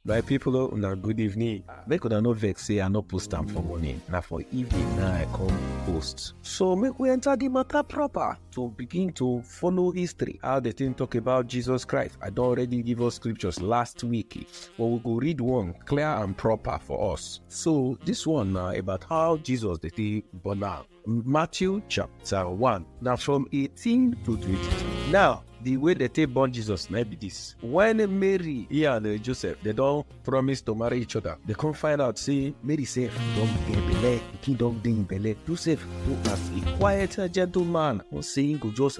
My people, oh, una good evening. Make una no vex say I no post am for morning. Na for evening na I come post. So make we enter the matter proper to begin to follow history. How the thing talk about Jesus Christ. I don already give us scriptures last week, but we go read one clear and proper for us. So this one na about how Jesus dey take born am. Matthew chapter 1. Now from 18 to 22. Now, the way they take born Jesus na be this. When Mary he and uh, Joseph they don promise to marry each other, they come find out say Mary sef don get belle, pikin don dey im belle. Joseph do as a quiet gentleman, come say he go just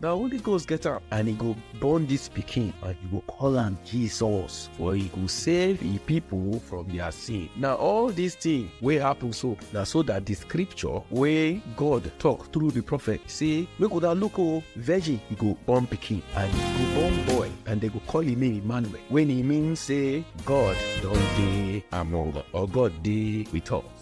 na holy ghost get am and e go born dis pikin and e go call am jesus for e go save e pipo from dia sin na all dis tin wey happen so na so dat di scripture wey god tok through di prophet say make una look o virgin e go born pikin and e go born boy and dem go call im name emmanuel wey e mean say god don dey among us or god dey with us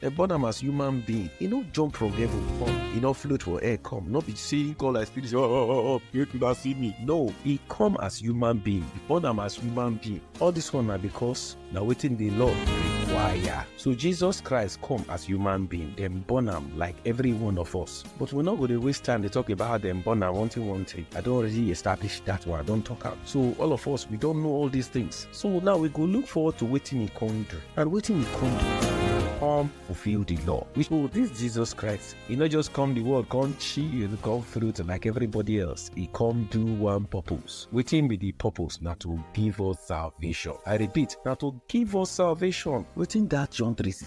Dem born am as human being. E no jump from heaven come. E no float for air come. No be say e come like spirit say, oh, oh, oh, oh, make una see me. No, e come as human being. E born am as human being. All this one na because na wetin the law require. So Jesus Christ come as human being. Dem born am like every one of us. But we no go dey waste time dey talk about how dem born am one thing one thing. I don already establish that one. I don talk am. So all of us, we don know all these things. So now we go look forward to wetin he come do and wetin he come do. Come fulfill the law. Which oh, this Jesus Christ, he not just come the world, come chill, come through to like everybody else. He come do one purpose. Wetin be the purpose? Na to give us salvation. I repeat, na to give us salvation. Wetin that John 3:16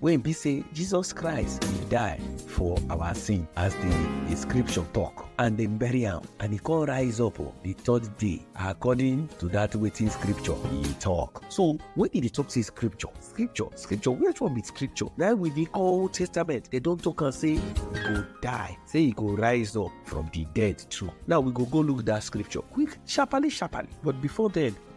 wey be say jesus christ bin die for our sin as di scripture tok and dem bury am and e come rise up di third day according to dat wetin scripture e tok so wen e dey tok say scripture scripture scripture which one be scripture na we dey call old testament dem don tok am say e go die say e go rise up from di dead too now we go go look dat scripture quick sharparly sharparly but before den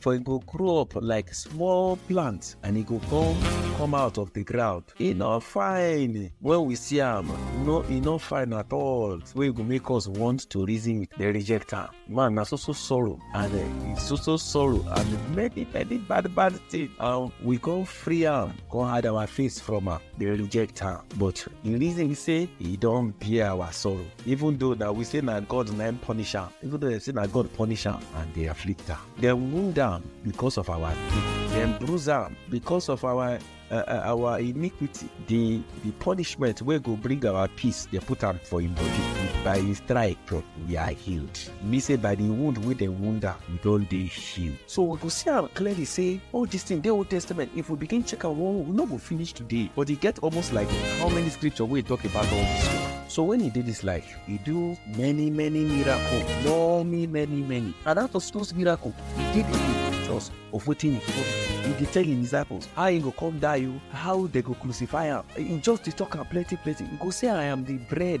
for e go grow up like small plant and e go come come out of the ground e no fine when we see am no e no fine at all wey go make us want to reason with the reject am man na so so sorrow and uh, so so sorrow and many many bad bad things and we come free am come hide our face from am dey reject am but the reason be say e don bear our sorrow even though na we say na god na im punish am even though dem say na god punish am and dey afflict am dem wound am because of our sin dem bruise am because of our uh, uh, our iniquity the the punishment wey go bring our peace dey put am for im body by his stripe we are healed. mean say by the wound wey dem wound am we don dey heal so we go see am clearly say all this thing dey old testament if we begin check am well we no go finish today but e get almost like how many scripture wey talk about all this thing so when e dey this life e do many many miracle many many many and out of those miracle e dey the pictures of wetin e go do e dey tell him disciples how he go come die o how they go crucify am e just dey talk am plenty plenty e go say i am the bread